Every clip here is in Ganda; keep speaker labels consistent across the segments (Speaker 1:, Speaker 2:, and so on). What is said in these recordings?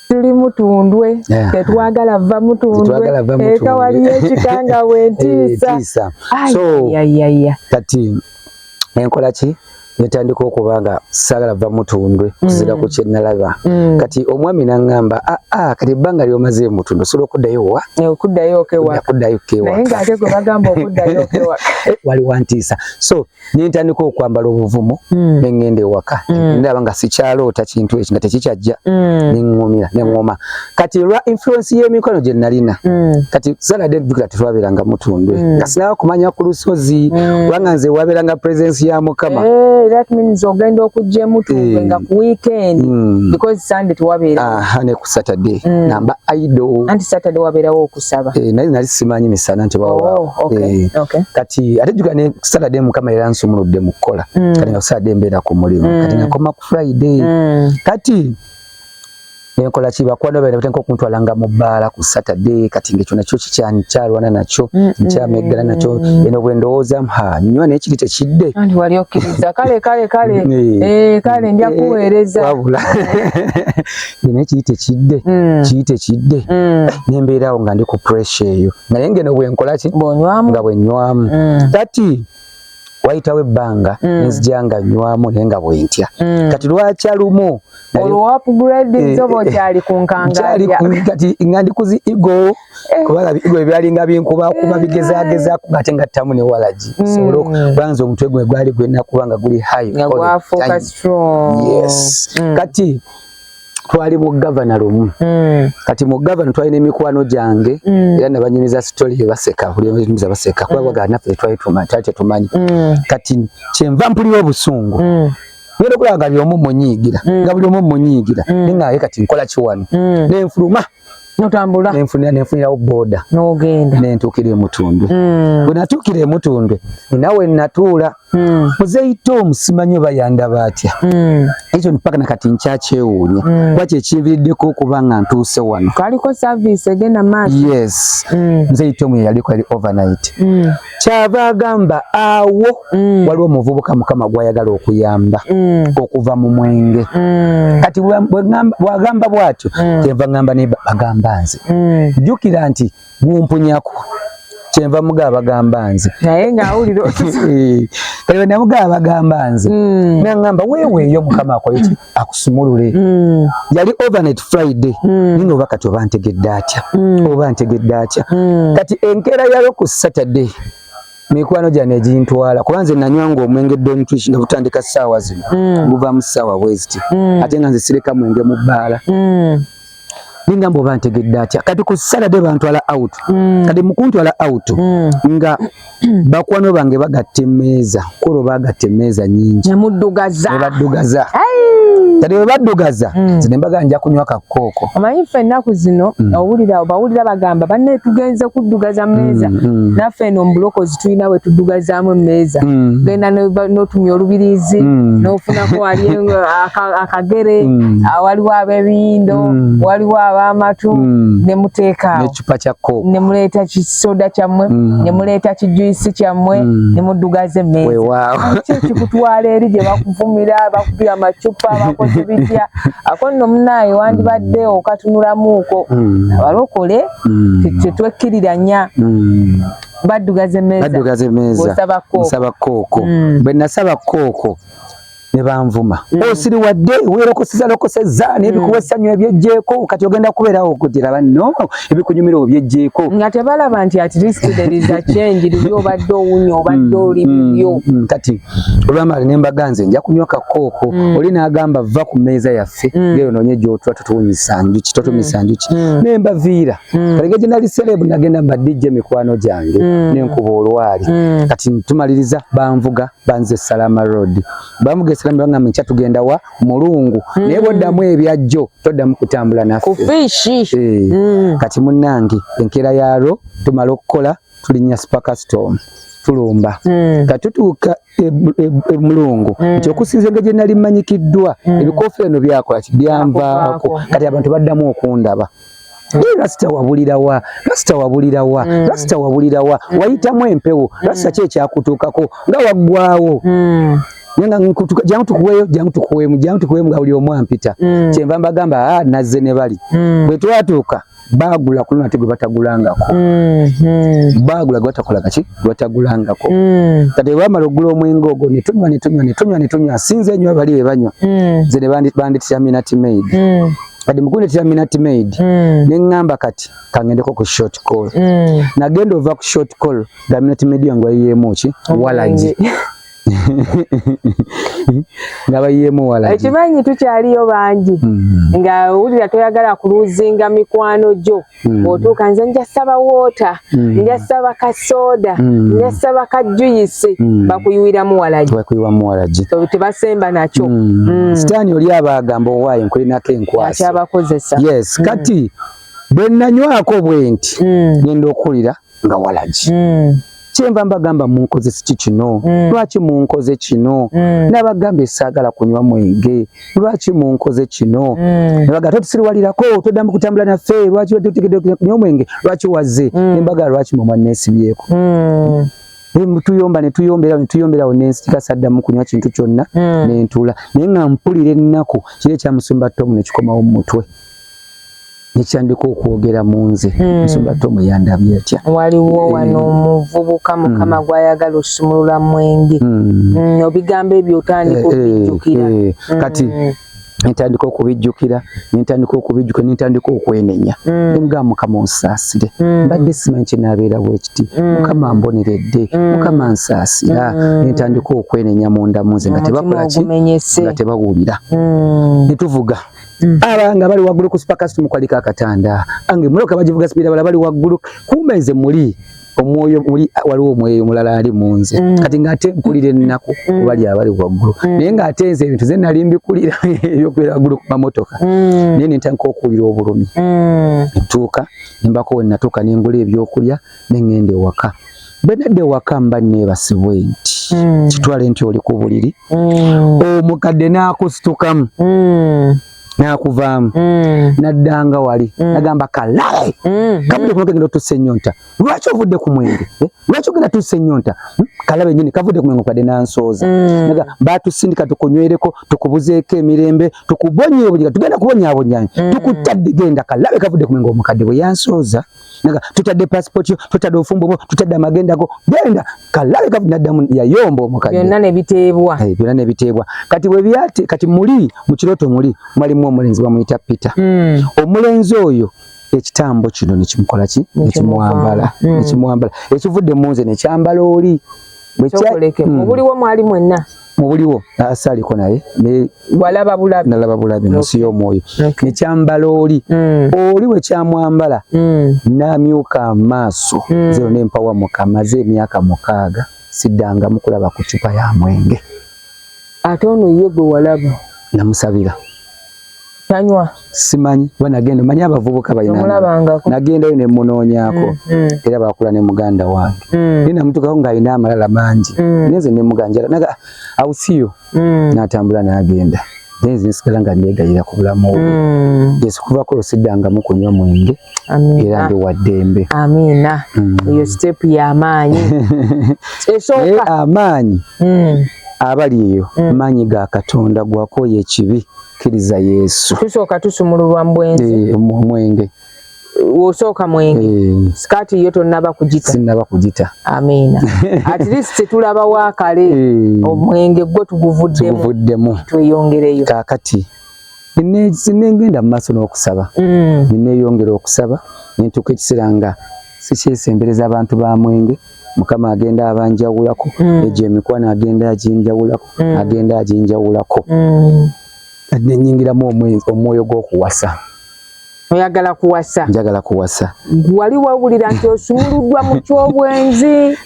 Speaker 1: tuli mutundwe tetwagala va mutundwe eka waliyo ekikanga wentiisa
Speaker 2: eh, kati enkola ki netandika okuba nga sagala va mutundwe mm. kuzira ku kyenalaba mm. kati omwami nangamba aa ah, ah, kati ebbanga lyomaze mutundwe osobola okuddayo wa eh, okuddayo kewakuddayo
Speaker 1: kewaknaye ngaate gwe bagamba okuddayo kewaka eh, wali wantiisa
Speaker 2: so nentandika okwambala obuvumu mm. nengenda ewaka mm. ndaba nga sikyaloota kintu ekyo nga tekikyajja mm. neŋumira neŋoma kati lwa influence y'emikono gye nalina mm. kati salade jukira tetwabeeranga mutundwe mm. nga sinaba kumanya ku lusozi mm. kubanga mm. nze wabeeranga presence ya mukama hey, eh, that means
Speaker 1: ogenda okujja emutundwe hey. Eh. nga ku weekend mm. because sunday tewabeera ne ku saturday
Speaker 2: mm. namba idol anti saturday wabeerawo
Speaker 1: kusaba eh naye nali simanyi
Speaker 2: misana nti bawa oh, okay, eh, okay. kati ate juga ne saturday mukama era nsumuludde mu kola mm. kati nga saturday mbera ku mulimu mm. kati nakoma ku friday mm. kati nenkola ki bakwano bene batenka okuntwalanga mu bbaala ku saturday kati ngekyo nakyo kikyankyalwana nakyo mm, mm, nkyameggala mm, nakyo eno bwe ndowooza ha nywa naye kiri tekidde wali okkiriza
Speaker 1: kale kale kale eh. Eh, kale nja eh, kuweereza wabula
Speaker 2: bino ekiyite kidde mm. kiyite kidde mm. nembeerawo nga ndi ku pressure eyo naye ngeno bwenkolaki nga bwenywamu mm. kati wayitawo ebbanga nzija nga nywamu naye nga bwentya kati lwakya lumu
Speaker 1: olwoapgradnkyali eh, kunkangaati eh, nga ndi
Speaker 2: kuzi igo eh. kubanga igo ebyalinga binkubakuba bigezagezaku ngate nga ttamu newalagi sobola okubanga nze omutwe gwe gwali gwenakuba nga guli high kati twali mu gavana lumu mm. kati mu gavana twalina emikwano gyange mm. era nabanyumiza sitoli yebaseka bulinyumiza baseka kuba mm. bagala naffe tetwali tetumanyi mm. kati kyenva mpulira obusungu mm. ngenda okulaba nga byomu munyiigira mm. nga buli omu munyiigira mm. naye nga ye kati nkola kiwano mm. nenfuluma notambula
Speaker 1: nenfunira nenfunirawo
Speaker 2: boda nogenda nentuukira
Speaker 1: emutundwe
Speaker 2: mm. bwe natuukira emutundwe nawe natuula mm. muzeeyita omusimanyi oba yandaba atya mm. ekyo mpaka nakati nkyakyewuunya mm. kuba kyekinviriddeko okuba nga ntuuse wano kaliko service
Speaker 1: egenda maaso yes mm.
Speaker 2: muzeeyita omu yeyaliko yali overnight mm. kyava agamba awo mm. waliwo omuvubuka mukama gwayagala okuyamba mm. okuva mu mwenge mm. kati bwagamba bwatyo mm. kyenva ngamba ne bagamba nze mm. jukira nti gumpunyako kyenva muga bagamba nze naye
Speaker 1: ngaawulira
Speaker 2: namuga bagamba nze mm. nangamba weweeyo mukama akoyeki akusumulule mm. yali overnight friday mm. nino oba kati oba ntegedde atya mm. oba ntegedde atya mm. kati enkeera yalo ku saturday mikwano gyano egintwala kuba nze nanywanga omwenge dontrish nga butandika ssaawa zino mm. guvaamu ssaawa bweziti mm. ate nga nze sireka mwenge mu bbaala mm. nengamba oba ntegedde atya kati ku salade bantwala out mm. kati mukuntwala out mm. nga bakwano bange bagatta emeeza kulo bagatta emeeza nyingi nebaddugaza kati webaddugaza mm. zine mbaga nja kunywa kakooko omanyi ffe ennaku
Speaker 1: zino mm. owulira bawulira bagamba banne tugenze kuddugaza meeza mm, mm. naffe eno mubulokozi tulina we tuddugazaamu emmeeza mm. genda n'otumya olubirizi mm. n'ofunako wali akagere mm. ah, waliwo ab'ebiyindo waliwo ab'amatu ne muteekaawo ne
Speaker 2: muleeta kisoda
Speaker 1: kyammwe ne muleeta kijuyisi kyammwe ne muddugaza emmeeza ki kikutwala eri gye bakuvumira bakubira amacupa bakoze bitya ako nno munaaye wandibadde okatunulamuuko abalokole tetwekkiriranya baddugaza emmeeza baddugaza emmeeza nsaba
Speaker 2: kooko mm. bwe nasaba kooko ne banvuma mm. osiri oh, wadde weerokoseza lokoseza mm. n'ebikuwa essanyu ebyejjeeko kati ogenda kubeerawo okugira banno ebikunyumira obyejjeeko nga tebalaba nti
Speaker 1: at least there is a change luli obadde owunya obadde mm, oli bibyo kati
Speaker 2: olwamala ne mbaga nze nja kunywa kakooko oli n'agamba va ku mmeeza yaffe ngeri onoonye gy'otula totuwunyisa njuki totumisa njuki ne mbaviira mm. kale gye nali celeb nagenda mba DJ mikwano gyange mm. nenkuba olwali mm. kati tumaliriza banvuga banze Salama Road bamuga esalama banga mcha tugenda wa mulungu mm. naye boddamu ebyajjo toddamu kutambula naffe kufishi eh. mm.
Speaker 1: kati
Speaker 2: munange enkera yaro tumala okukola tulinya super custom tulumba mm. katutuuka emulungu e, e, mm. nti okusinza nga gyenali manyikiddwa mm. ebikoofira no byakola kibyanvaako kati abantu baddamu okundaba Naye rasita wabulira wa? Rasita wabulira wa? Mm. Rasita wabulira wa? Mm. Wayitamu empewo. Mm. Rasita ki ekyakutuukako nga waggwawo? Mm. jangu tukuweyo jangu tukuwemu jangu tukuwemu nga buli omu ampita mm. kyenva mbagamba ah, nazze ne bali mm. bwe twatuuka baagula ku lunate gwe batagulangako mm-hmm. baagula gwe batakola kaki gwe batagulangako mm. kati bwebamala okugula omwenge ogwo ne tunywa ne tunywa ne tunywa ne tunywa sinze enyo bali be banywa nze ne bandityaminati maid kati mukunetera minat maid mm. neŋŋamba kati kangendeko ku short call mm. nagenda ova ku short call nga minat maid yange wayiyeemu ki walagi nga bayiyeemu walagi ekimanyi tukyaliyo
Speaker 1: bangi mm. nga wulira toyagala kuluzinga mikwano gyo Hmm. otuuka nze nja saba wota hmm. nja saba ka soda hmm. nja saba ka juyisi bakuyiwiramu walagibakuyiwamuwalagitebasemba nakyo sitaani oli
Speaker 2: aba agamba owaayo nkulinako enkwasabakozesa yes
Speaker 1: kati
Speaker 2: bwenanywako bwenti nenda okuwulira nga walagi mm. kyenva mbagamba munkoze siki kino mm. lwaki munkoze kino mm. nabagambye saagala kunywa mwenge lwaki munkoze kino mm. nabaga totusiriwalirako toddamu kutambula naffe lwaki otegedde kunywa omwenge lwaki wazze mm. embaga lwaki mwe mwanneesibyeko mm. tuyomba netuyomberawo netuyomberawo nensika saddamu kunywa kintu kyonna mm. nentula naye nga mpulira ennaku kiri ekyamusumba tomu nekikomawo mu mutwe nekyandika okwogera mu nze hmm. nsonga te omuyandabye atya waliwo eh. wano
Speaker 1: omuvubuka hmm. mukama gwayagala osumulula mwenge hmm. obigambo ebyo otandika eh, eh, okubijjukira kati
Speaker 2: nentandika okubijjukira nentandika okubijjukira nentandika okwenenya nga mm. mukama onsaasire mm. mbadde simanyi kyenabeera bwekiti mm. mukama mboneredde mukama nsaasira nentandika okwenenya mundamu nze nga tebawulira netuvuga Mm. abanga bali waggulu ku supakasiti mukwalika akatanda ange muloka bagivuga sipiira bala bali waggulu kumba nze muli omwoyo muli waliwo omwoyo omulala ali mu nze mm. kati ng'ate nkulira ennaku mm. obali abali waggulu mm. naye ng'ate nze ebintu ze nali mbikulira ebyokubeera waggulu ku mamotoka mm. naye nentandika okuwulira obulumi mm. ntuuka nembako wenatuuka nengula ebyokulya nengenda ewaka bwenadda ewaka mba nebasibwe nti mm. kitwale nti oli ku buliri mm. omukadde nakusitukamu mm. nakuvaamu mm. naddanga wali mm. nagamba kalae mm. kabudde kuno kegenda otusa enyonta lwaki ovudde ku mwenge eh? lwaki ogenda tusa enyonta hmm? kalabe nyini kavudde ku mwenge okadde nansooza mm. batusindika tukunywereko tukubuzeeko emirembe tukubonyeobonyaa tugenda kubonyaabonyanyo mm. tukutadde genda kalabe kavudde ku mwenge omukadde bwe yansooza mm. naga tutadde passport yo tutadde ofumbo bo tutadde amagenda go genda kalabe kavu nadamu ya yombo mukadde yonna ne bitebwa eh byonna ne bitebwa kati we byate kati muli mu kiroto muli mwali mu omulenzi bamuyita Peter mm. omulenzi oyo ekitambo kino ne kimukola ki ne kimwambala ne hmm. kimwambala ekivudde mu nze ne kyambala oli bwe kya hmm.
Speaker 1: obuliwo mwali mwenna mubuliwo
Speaker 2: asaliko naye walaba
Speaker 1: bulabi nalaba bulabi munsi
Speaker 2: y'omwoyo nekyambala oli mm. oli wekyamwambala mm. namyuka amaaso mm. zero nempawa mukamaze emyaka mukaaga siddanga mukulaba ku cupa ya mwenge ate
Speaker 1: ono ye gwe walaba namusabira tanywa simanyi
Speaker 2: kuba nagenda manyi abavubuka balinagendayo ne munoonyako mm, mm. era bakula ne muganda wange mm. naye namutukawo ng'alina amalala mangi nenze ne muganjala naga awusiyo n'atambula n'agenda nenze nsigala nga negayira ku bulamu obwo yes kuvako lwo siddangamu kunywa mwenge era ndi wa ddembe amiina
Speaker 1: mm. eyo sitepu y'amaanyi esooka amaanyi
Speaker 2: mm. abali eyo mm. maanyi ga katonda gwakooya ekibi kkiriza yesu tusooka tusumululwa
Speaker 1: mu bwenzi eh, omwenge
Speaker 2: osooka
Speaker 1: mwenge eh. sikaati yo tonaba kugita sinaba kugita
Speaker 2: amiina
Speaker 1: at least tetulabawo akale eh. omwenge gwo tuguvuddemu tweyongereyo kakati
Speaker 2: nengenda mu maaso n'okusaba mm. neneyongera okusaba nentuuka ekiseera nga sikyesembereza abantu ba mwenge mukama agenda abanjawulako mm. egyo emikwano agenda aginjawulako mm. agenda aginjawulako nenyingiramu omwoyo gw'okuwasa oyagala
Speaker 1: kuwasa njagala kuwasa
Speaker 2: wali wawulira
Speaker 1: nti osumuluddwa mu kyobwenzi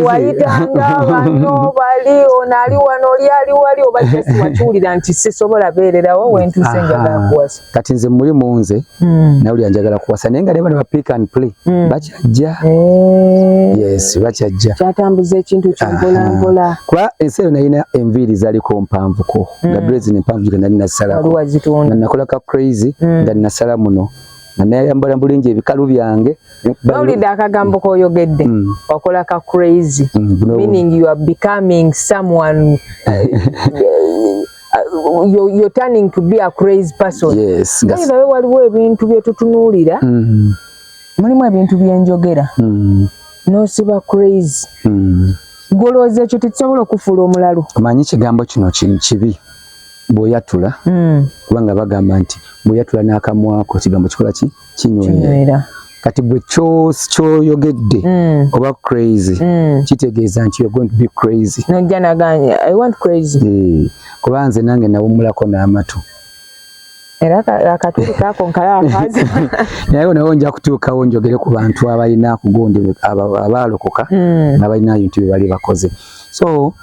Speaker 1: wayitanga bano bali ono ali wano oli ali wali oba just wakiwulira nti sisobola beererawo wentuse njagala kuwasa kati nze muli munze
Speaker 2: hmm. nawulira njagala kuwasa naye nga ne bano ba pick and play hmm. baki kyajja eh. yes oba kyajja kyatambuza ekintu
Speaker 1: kyompolampola kuba ensi eyo nalina
Speaker 2: enviiri zaliko mpanvuko hmm. nga dresi nempanvu gika nali nasalako nakola ka crazy hmm. nga nasala muno nga nayambala bulungi ebikalu byange bawulidde
Speaker 1: akagambo koyogedde hmm. wakola ka crazy meaning you are becoming someone you're, you're turning to be a crazy person yes, naye nawe
Speaker 2: waliwo ebintu
Speaker 1: byetutunuulira mm -hmm. mulimu ebintu byenjogera mm. nosiba crazy mm. golooza ekyo tekisobola okufuula omulalu omanyi ekigambo kino
Speaker 2: kibi bwoyatula mm. kubanga bagamba nti bwoyatula n'akamwako ekigambo kikola ki kinywera kati bwe kyoyogedde mm. oba crazy mm. kitegeeza nti you're going to be crazy nojja naganya
Speaker 1: i want crazy eh, kuba nze nange
Speaker 2: nawumulako n'amatu
Speaker 1: era akatuli kaako nkala akazi naye onawo
Speaker 2: nja kutuukawo njogere ku bantu abalina kugondere abaalokoka hmm. nga balina bintu bye bali bakoze so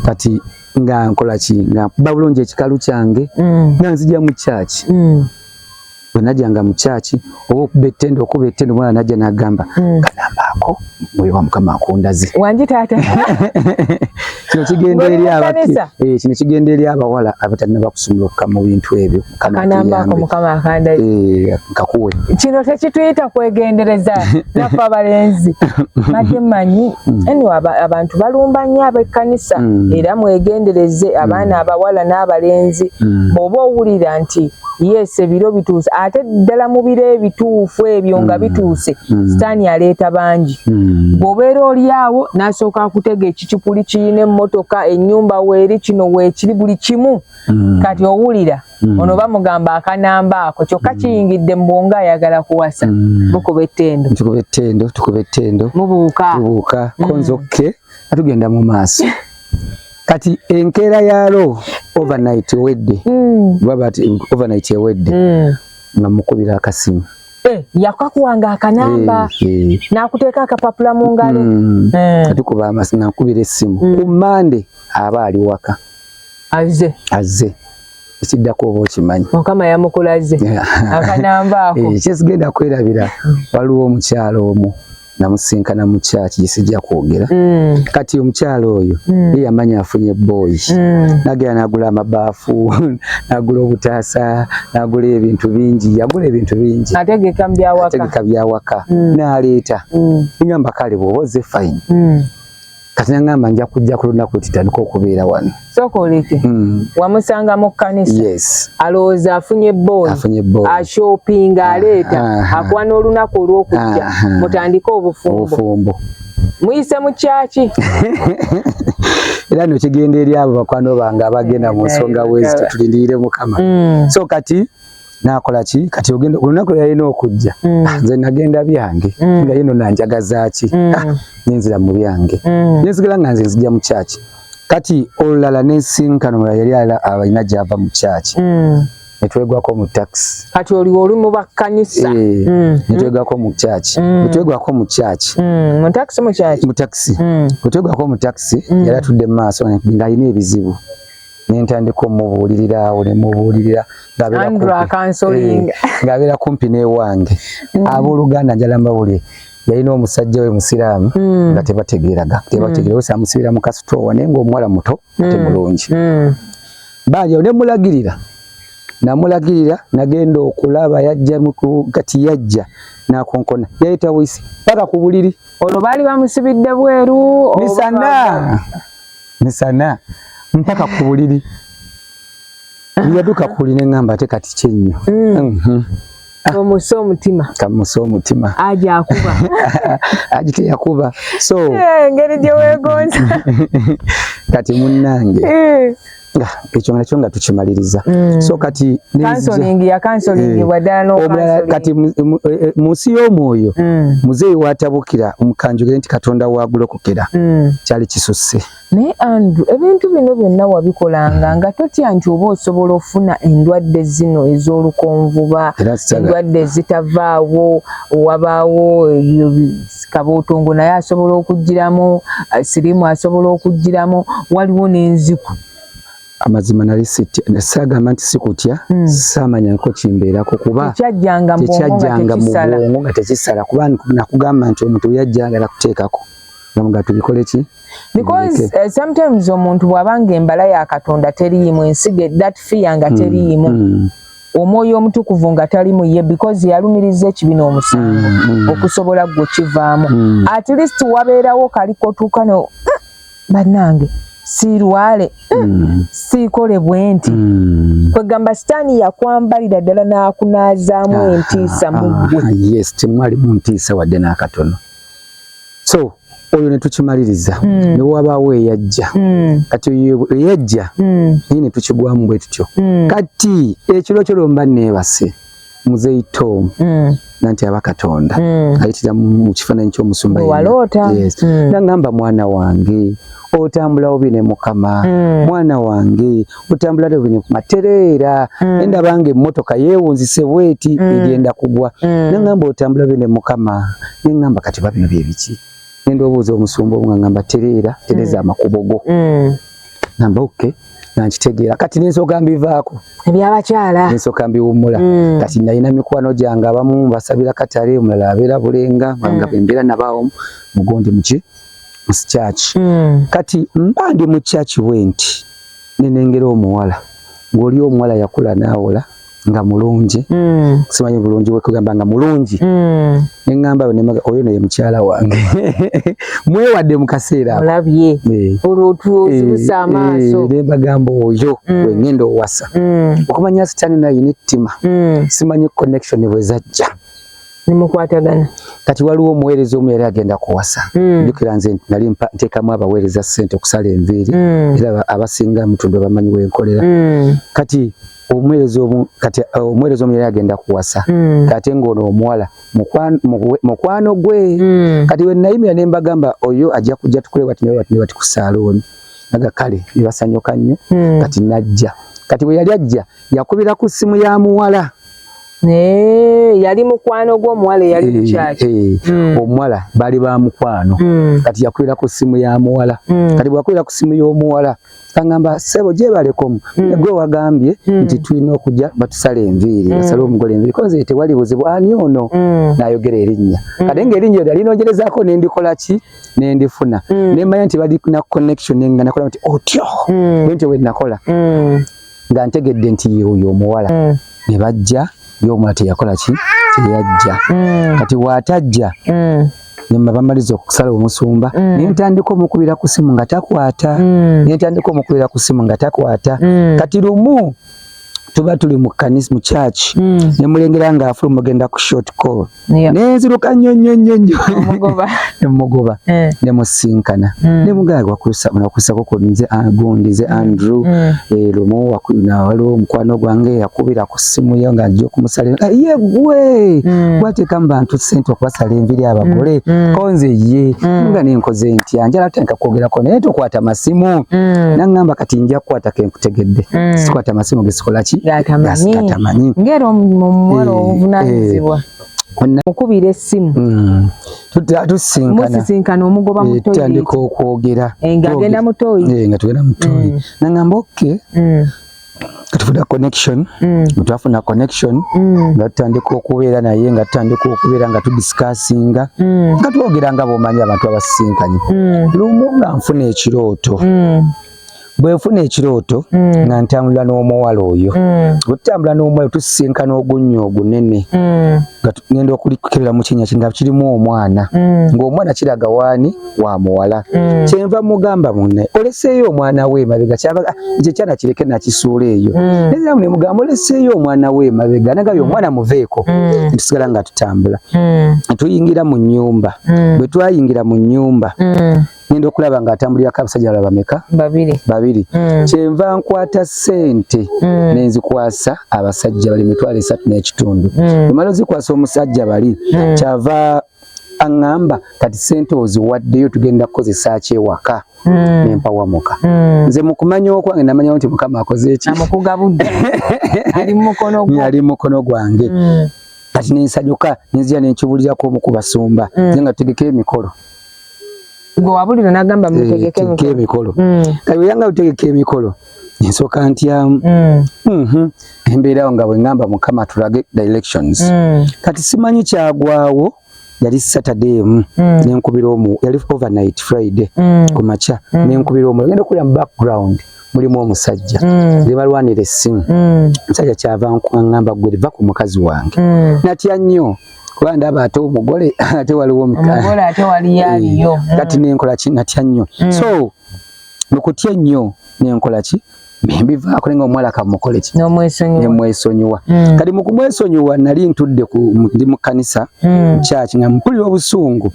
Speaker 2: kati nga nkola ki nga mpuba bulungi ekikalu kyange hmm. nga nzija mu kyaki hmm. bwe najanga mu kyaki oba okuba ettendo okuba ettendo omwana najja nagamba hmm. kanambaako mwoyo wa mukama akundaze wangi taata kino kigenda eri eh, kino kigenda eri abawala abatalina bakusumula okukama mu bintu ebyo kanambaako mukama
Speaker 1: akandaze eh, nkakuwe
Speaker 2: kino tekituyita
Speaker 1: kwegendereza nafe abalenzi badde manyi hmm. eni abantu balumba nnyo abekkanisa hmm. era mwegendereze abaana abawala n'abalenzi bwoba owulira nti yes ebiro bituuse ate ddala mu biro ebituufu ebyo nga mm. bituuse mm. sitaani aleeta bangi mm. bw'obeera oli awo n'asooka akutega ekicupuli kirina emmotoka ennyumba weeri kino weekiri buli kimu kati owulira ono bamugamba akanamba ako kyokka kiyingidde mu bwongo ayagala kuwasa mukuba ettendo mubuuka konzokke nga tugenda mu maaso kati enkeera yalo overnight ewedde mm. baba ti overnight ewedde mm. nga mukubira akasimu eh, yakakuwanga akanamba eh, eh. nakuteeka akapapula mu ngalo mm. kati kuba amasi nakubira essimu ku mande aba ali waka azze azze ekiddako oba okimanyi mukama yamukulaze akanamba ako kyesigenda kwerabira
Speaker 2: waliwo omukyalo omu namusinkana mu kyaki gyesijja kwogera mm. kati omukyala oyo mm. ye yamanya afunye boyi mm. nagera nagula amabaafu nagula obutaasa nagula ebintu bingi yagula ebintu bingi ategeka
Speaker 1: byawaka
Speaker 2: naleeta ngamba kale bwoba oze fayini kati nangamba nja kujja ku lunaku lwetutandika okubeera wano sooka oleke
Speaker 1: hmm. wamusanga mu kkanisa yes. alowooza
Speaker 2: afunye
Speaker 1: booni ashopinga ah, aleeta ah, ah. akuwa n'olunaku olw'okujja mutandike obufumbo muyise mu kyaki
Speaker 2: era nokigenda eri abo bakwano bange abagenda mu nsonga wezi tutulindirire mukama hmm. so kati nakola ki kati ogenda olunaku yalina okujja mm. ah, nze nagenda byange mm. nga yino nanjagaza ki mm. ah, nenzira mu byange mm. nenzigala nga nze nzija mu kyaki kati olulala nensinkano mulala yali ala abalina gyava mu kyaki mm. netwegwako mu takisi kati oli oli mu
Speaker 1: bakkanisa e, mm. netwegwako
Speaker 2: mu kyaki mm. netwegwako mu kyaki mm. mu takisi mu kyaki mu takisi mm. netwegwako mu takisi mm. yali atudde mu maaso ng'alina ebizibu nentandika omubuulirira awo nemubuulirira ng'abeera kumpi eh, n'ewange mm. abooluganda njala mbawulire yalina omusajja we musiraamu mm. nga tebategeeraga tebategeera wese mm. amusibira mu kasitoowa naye ngaomuwala muto mm. ate mulungi baajawo ne mulagirira namulagirira nagenda okulaba yajja kati yajja nakonkona yayita wisi paka ku buliri olwo baali bamusibidde
Speaker 1: bweru misana
Speaker 2: misana mpaka ku buliri yaduka ku buliri neŋŋamba ate kati kyennyo mm. mhm. ah. omusa
Speaker 1: omutima kamusa omutima
Speaker 2: aja
Speaker 1: akuba aji
Speaker 2: teyakuba so eh, engeri gye
Speaker 1: weegonza
Speaker 2: kati munnange eh. nga ekyo nakyo nga tukimaliriza mm. so kati counseling ya counseling
Speaker 1: eh, wadano omulala kati eh,
Speaker 2: mu nsi y'omwoyo mm. muzeeyi watabukira omukanjugire nti katonda wagulokokera mm. kyali kisusse naye andrew
Speaker 1: ebintu bino byonna wabikolanga nga totya nti oba osobola ofuna endwadde zino ez'olukonvuba endwadde ezitavaawo wabaawo kabuutungu naye asobola okugiramu eh, sirimu asobola okugiramu waliwo n'enziku amazima
Speaker 2: nali sagamba nti sikutya hmm. samanya nko kimbeerako kuba tekyajjanga
Speaker 1: mu bwongo nga
Speaker 2: tekisala kuba nakugamba nti omuntu yajjagala kuteekako nga tubikole ki because
Speaker 1: uh, sometimes omuntu bwabanga embala ya katonda teriimu ensiga that fear nga hmm. teriimu mm. mm. omwoyo omutukuvu nga tali mu ye because yalumiriza ekibi n'omusango mm, mm. okusobola gwe kivaamu mm. at least wabeerawo kali kotuuka no mm, bannange sirwale mm. siikole bwe nti mm. kwegamba sitaani yakwambalira ddala n'akunaazaamu ah, entiisa ah, mu ggwe ah, yes temwalimu
Speaker 2: ntiisa wadde n'akatono so oyo netukimaliriza mm. newabaawo eyajja mm. kati oyo eyajja mm. naye netukigwamu bwe tutyo mm. kati ekiro kyo lwemba neebase muzeyi tom mm. nanti aba katonda mm. ayitira mu kifaananyi ky'omusumba yes. mm. nangamba mwana wange otambula obi ne mukama mm. mwana wange butambula tebulina kuma tereera mm. endaba nga emmotoka yeewunzise bweti mm. egenda kugwa mm. nengamba otambula bene mukama nengamba kati babino byebiki nenda obuuza omusumba omu ngangamba tereera tereza mm. amakubo go mm. namba oke okay. nankitegeera kati nensoka mbivaako ebyabakyala
Speaker 1: nensoka mbiwummula
Speaker 2: mm. kati nalina mikwano gyange abamu mbasabira katale omulala abeera bulenga nga mm. bembeera nabaawo mugondi muki musikyaki mm. kati mba ndi mukyaki bwenti nenengera omuwala ng'oli omuwala yakula naawola nga mulungi mm. simanyi bulungi bwekugamba nga mulungi mm. neŋamba oyo naye mukyala wange mwewadde mu kaseera olabye eh.
Speaker 1: olwotuzibusa eh, amaaso eh, nembagamba oyo
Speaker 2: mm. wengenda owasa okumanya sitani naye nettima simanyi connection bwezajja nemukwatagana
Speaker 1: kati waliwo
Speaker 2: omuweereza omu yali agenda kuwasa hmm. njukira mm. nze nali ntekamu abaweereza sente okusala enviiri mm. era abasinga mutundwe bamanyi wenkolera mm. kati omuweereza omu kati uh, omuweereza omu yali agenda kuwasa mm. kate ngaono omuwala mukwano gwe mm. kati wenayimira ne mbagamba oyo ajja kujja tukule wati nawe wati ne wati ku saalooni aga kale ne basanyuka nnyo mm. kati najja kati bwe yali ajja yakubira ku ssimu ya muwala Hey,
Speaker 1: yali mukwano gwo omuwala eyali hey, mukyaki hey. mm. omuwala
Speaker 2: bali ba mukwano mm. kati yakwira ku simu ya muwala mm. kati bwakwira ku simu y'omuwala kangamba sebo gyebalekomu mm. gwe wagambye mm. nti tulina okujja batusala enviiri mm. asala omugole enviiri koze tewali buzibu ani ono mm. nayogera erinnya mm. kati nga erinnya eryo alinogerezaako nendikola ki nendifuna mm. nemanya nti bali na connection nenga nakola nti otyo mm. bwentyo bwenakola mm. nga ntegedde nti yoyo omuwala mm. ne bajja yomula teyakola ki teyajja mm. kati watajja mm. nebamaliza okusala omusumba mm. nentandika omukubira ku simu nga takwata mm. nentandika omukubira ku simu nga takwata mm. kati lumu tuba tuli mu kanisa mu church mm. nemulengera nga afuluma ogenda ku short call nenziruka nnyo nnyo nnyo nnyo nemugoba eh. nemusinkana hmm. nemugaaga wakusako ku nze ah, gundi nze hmm. andrew hmm. eh, lumu waliwo omukwano gwange yakubira ku simu yo nga nja okumusala ah, ye gwe gwatekamu bantu sente okubasala enviri abagole konze ye nga nenkoze ntya njala tandika kwogerako naye tokwata masimu naŋŋamba kati nja kukwatako kutegedde mm. sikwata amasimu gesikolaki gatamanyi
Speaker 1: ngera omuwala eh, obuvunanyizibwa eh. mukubira essimu mm. tusinkana omugoba eh, mutandika okwogera
Speaker 2: ngagenda mutoyi
Speaker 1: nga tugenda mutoyi mm.
Speaker 2: nangamba oke tufuna connection twafuna connection nga tutandika okubeera naye nga tutandika okubeera nga tudiscussinga nga twogera nga bomanyi abantu abasisinkanyi lumu nga nfuna ekirooto bwenfuna ekirooto mm. nga ntambula n'omuwala oyo bwetutambula mm. n'omuwala tusisinkana ogunnya ogunene mm. nga ngenda okulikukebera mu kinya nga kirimu omwana ng'omwana kiraga waani wa muwala kyenva mugamba munne oleseeyo omwana we emabega kyaba ah, ekyo ekyana kireke nakisuula eyo nezamu nemugamba oleseeyo omwana we emabega nagayo omwana muveeko ntusigala nga tutambula tuyingira mu nnyumba bwe twayingira mu nnyumba ngenda okulaba nga atambulirako abasajja bala bameka babiri babiri mm. kyenva nkwata sente mm. nenzikwasa abasajja bali mitwalo esatu n'ekitundu mm. emala ozikwasa omusajja bali mm. kyava aŋŋamba kati ssente oziwaddeyo tugenda kukozesa ki ewaka hmm. nempawamuka hmm. nze mu kumanya okwange namanyawo nti mukama akoze
Speaker 1: ekiali mukono gwange hmm.
Speaker 2: kati nensanyuka nenzira nenkibuulirako omu ku basumba nze nga tutegekayo emikolo
Speaker 1: gwe wabulira nagamba mutegeke eh, emikolo emikolo mm.
Speaker 2: kati weyanga utegeka emikolo nsooka ntyamu mm. mhm. embeerawo nga bwe ŋŋamba mukama tulage directions mm. kati simanyi kyagwawo yali saturday emu mm. nenkubira omu yali overnight friday ku makya nenkubira omu agenda okulira mu background mulimu omusajja nebalwanira essimu omusajja kyava nkuaŋŋamba gwe liva ku mukazi wange natya nnyo kuba ndaba ate omugole ate waliwo omugole ate wali
Speaker 1: yaliyo eh, mm. kati nenkola ki
Speaker 2: natya nnyo mm. so nokutya ennyo nenkola ki mbivaako naye nga omuwala kamukole ki nemwesonyiwa mm. kati mukumwesonyiwa nali ntudde ndi mu kkanisa kyaki nga mpulira obusungu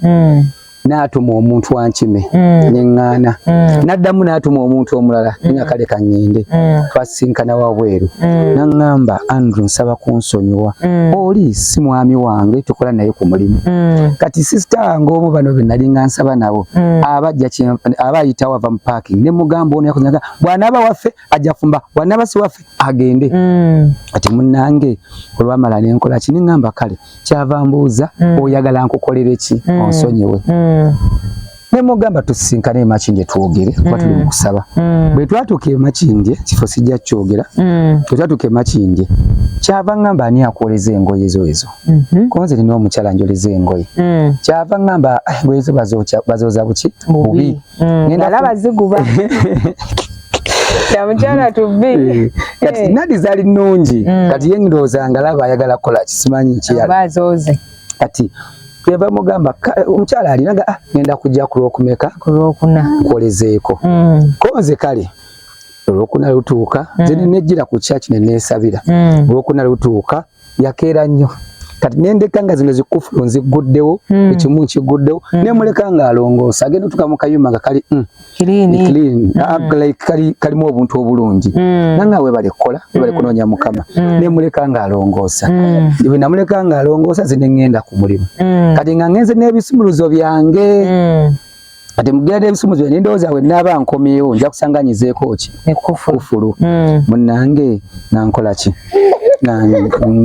Speaker 2: n'atuma omuntu ankime mm. ne ŋŋaana mm. n'addamu n'atuma omuntu omulala mm. nga kale ka ŋŋende twasisinkana wabweru n'aŋŋamba andrew nsaba kunsonyiwa oli si mwami wange tukola naye ku mulimu kati sisita wange omu bano be nali nga nsaba nabo aba ayita wava mu parking ne mugamba ono yakuzaga bw'anaaba waffe ajja fumba wanabasi waffe agende mm. ati munange olwamala nenkola kini ngamba kale kyava mbuuza mm. oyagala nkukolere ki mm. onsonyiwe mm. nemugamba tusisinkane emakindye twogere kuba tuli mm. mukusaba mm. bwe twatuuka emakindye kifo sijja kyogera mm. bwe twatuuka emakindye kyava ngamba ani akwoleza engoye zo ezo mm-hmm. konze nina omukyala njoleza engoye mm. kyava ngamba ah, engoye zo bazooza buki bubi nalaba
Speaker 1: ziguba namukyala tubbi eh, kati eh. nadi
Speaker 2: zali nungi mm. kati ye ndowooza nga laba ayagala kukola kisimanyi kiyazooze
Speaker 1: kati
Speaker 2: kyeva mugamba omukyala alinaga ah, ngenda kujja ku lwokumeka ku lwokuna nkolezeeko mm. ko nze kale olwokuna lutuuka mm. zene nejjira ku kyaki ne neesabira mm. olwokuna lutuuka yakeera nnyo kati nendeka nga zino zikufulu nzigguddewo hmm. ekimu nkiguddewo hmm. nemuleka nga alongoosa agenda otuka mu kayumba nga kali hmm, ah, kalimu obuntu obulungi nanga webale kukola webale kunoonya mukama nemuleka nga alongoosa bwe namuleka nga alongoosa zineŋŋenda ku mulimu kati nga ngenze n'ebisumuluzo byange kati mugera n'ebisumuzi byange ndowooza we naaba nkomyewo nja kusanga nyizeeko ki kufulu hmm. munnange nankola ki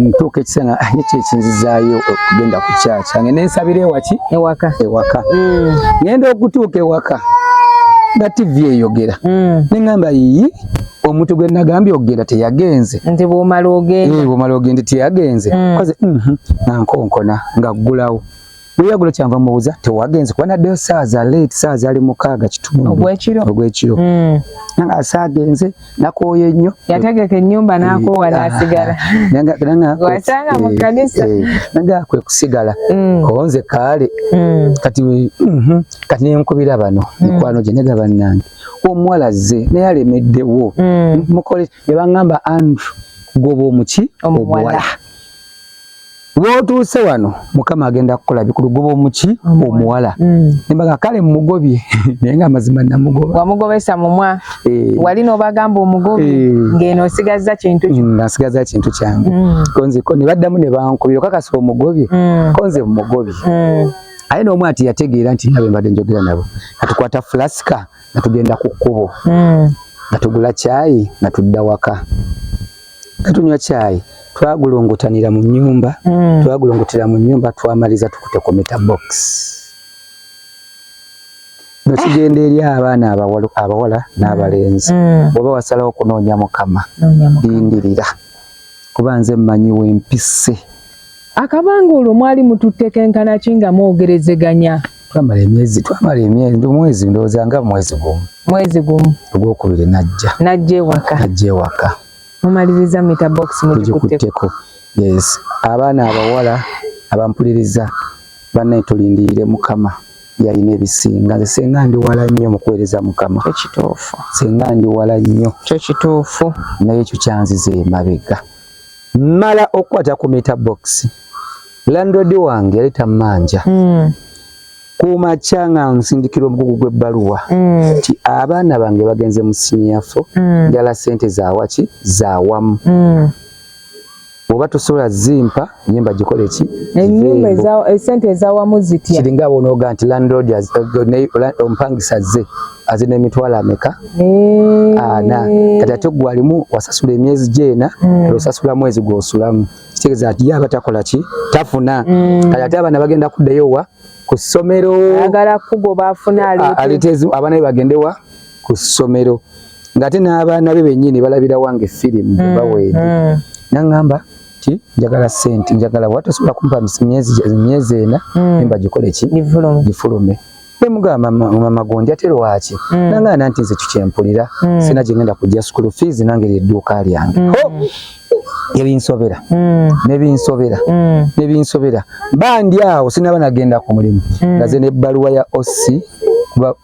Speaker 2: ntuuka ekiseera ah, ekyo ekinzizaayo okugenda ku kyakya nge nensabira ewaki ewaka ewaka hmm. ngenda okutuuka ewaka nga tivi eyogera hmm. neŋamba yiyi omuntu gwe nagambye okugenda teyagenze nti bwomala
Speaker 1: ogenda eh, bwomala ogenda
Speaker 2: teyagenze koze mhm, nankonkona ngaggulawo Luyagulo kyanva mubuuza tewagenze kuba naddeyo saaza late saaza ali mukaaga kitundu ogwekiro ogwekiro mm. nanga asaagenze nakooye nnyo yategeka ennyumba eh,
Speaker 1: nakoowa ah, nasigala wasanga mu eh, kkanisa eh, nanga kwe
Speaker 2: kusigala mm. konze kaale mm. kati mhm, kati nenkubira bano mikwano gye nega bannange omuwala zze naye alemeddewo mukole ne baŋŋamba andrew goba omuki omuwala Wotuuse wano mukama agenda kukola bikulu goba omuki omuwala mm. nembaga kale mumugobye naye nga amazima namugoba wamugobesa mumwa
Speaker 1: eh. wali nobagamba omugobi eh. ngeno osigazza kintu mm, nga nsigazza kintu
Speaker 2: kyange mm. konze ko nebaddamu ne bankubira okakasa omugobye mm. konze mumugobye mm. aye n'omu ati yategeera nti nabe mbadde njogera nabo natukwata flasika natugenda ku kkubo mm. natugula kyayi natudda waka nga tunywa kyayi twagulongotanira mu nyumba mm. twagulongotera mu nyumba twamaliza tukute ku mita box no kigenda eri abaana abawala abawala n'abalenzi mm. mm. bwoba wasalawo kunoonya mukama lindirira kuba nze mmanyi wempise Akabanga
Speaker 1: olwo mwali mututte kenkana ki nga mwogerezeganya? Twamala emyezi
Speaker 2: twamala emyezi ndi mwezi ndowooza nga mwezi gumu. Mwezi gumu. Ogwokubiri najja. Najja ewaka. Najja ewaka. Mumaliriza
Speaker 1: mita box mugikutteko. Yes.
Speaker 2: Abaana abawala abampuliriza bannaye tulindirire Mukama yalina ebisinga nze senga ndi wala nnyo mu kuweereza Mukama. Ekituufu. Senga
Speaker 1: ndi wala
Speaker 2: nnyo. Kyo kituufu.
Speaker 1: Naye ekyo kyanziza
Speaker 2: emabega. mala okukwata ku meter box landlord wange yali tammanja mm. ku makya nga nsindikira omugugu gw'ebbaluwa mm. nti mm. abaana bange bagenze mu siniyafo mm. njala sente zawaki zawamu mm. oba tosobola zimpa nye mbagikole ki enyumba
Speaker 1: esente ezawamu zitya kiringa bwonoga nti
Speaker 2: landlord eh, omupangisa ze azina emitwalo ameka eh. ana kati ate gwe alimu wasasula emyezi gyena hmm. osasula mwezi gwosulamu kitegeeza nti ye aba takola ki tafuna hmm. kati ate abaana bagenda kuddayo wa ku ssomero ayagala kugoba
Speaker 1: afune aleteezi abaana be
Speaker 2: bagende wa ku ssomero ng'ate n'abaana be bennyini balabira wange firimu hmm. baweede naŋŋamba nti njagala sente njagala watosobola kumpa myezi ena emba gikole ki gifulume ne mugamba mama gonja te lwaki mm. nanga nanti nze kikyempulira mm. sina jengenda kujja school fees nange lye duka lyange mm. oh! ebinsobera mm. nebinsobera mm. nebinsobera bandi awo sinaba nagenda ku mulimu mm. ngaze ne baluwa ya osi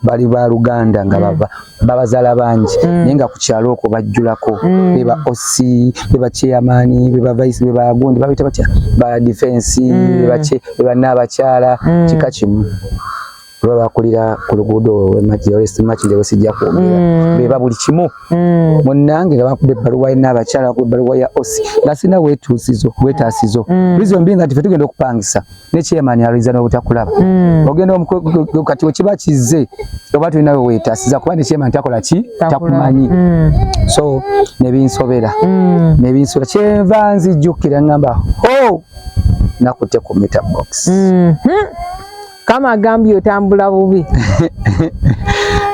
Speaker 2: bali ba luganda nga mm. baba babazala bangi mm. naye nga ku kyalo okwo bajjulako mm. beba oc beba chairmani beba vice beba gundi babita batya ba defense mm. beba naabakyala mm. kika kimu oba bakulira ku luguudo olwemakimakinde wesijja kwogera mm. beba buli kimu mm. munnange nga bakuba ebbaluwa ye naabakyala bakuba ebbaluwa ya oc nga sirina wetuusizo wetaasizo mm. reason being nga tife tugenda okupangisa ne chairman aliza no butakulaba mm. ogenda omukwe kati okiba kizze oba tulina we weta siza kuba ne chairman takola ki takumanyi mm. so ne binsobera mm. ne binsobera chenva nzi jukira ngamba ho nakute ku meter box mm. hmm.
Speaker 1: kama agambye otambula bubi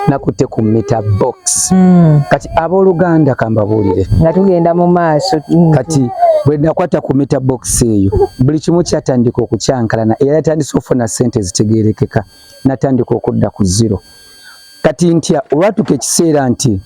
Speaker 1: nakute
Speaker 2: ku meter box mm. kati Abooluganda kambabuulire nga tugenda mu
Speaker 1: maaso mm. kati bwe
Speaker 2: nakwata ku mita bokisi eyo buli kimu kyatandika okukyankalana era yatandise okufuna ssente ezitegeerekeka natandika okudda ku ziro kati ntya olwatuka ekiseera nti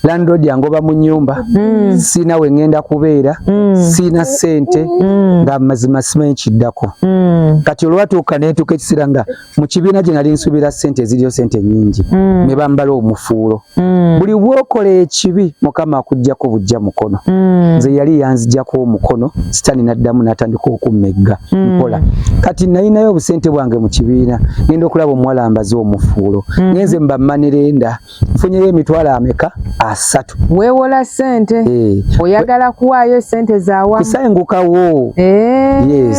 Speaker 2: landlord yangoba mu nyumba mm. sina we ngenda kubeera mm. sina sente mm. nga mazima simanyi kiddako mm. kati olwatuuka netuuka ekiseera nga mu kibiina gye nali nsuubira ssente eziriyo ssente nnyingi mm. ne bambala omufuulo mm. buli bwokola ekibi mukama akuggyako bujja mukono mm. nze yali yanzigyako omukono sitaani n'addamu n'atandika okummegga mpola kati nalinayo obusente bwange mu kibiina ngenda okulaba omuwala mbaze omufuulo ngenze mbamanirenda nfunyeyo emitwalo ameka asatu wewola
Speaker 1: sente eh. oyagala kuwaayo sente zawa kusengukawo
Speaker 2: eh. yes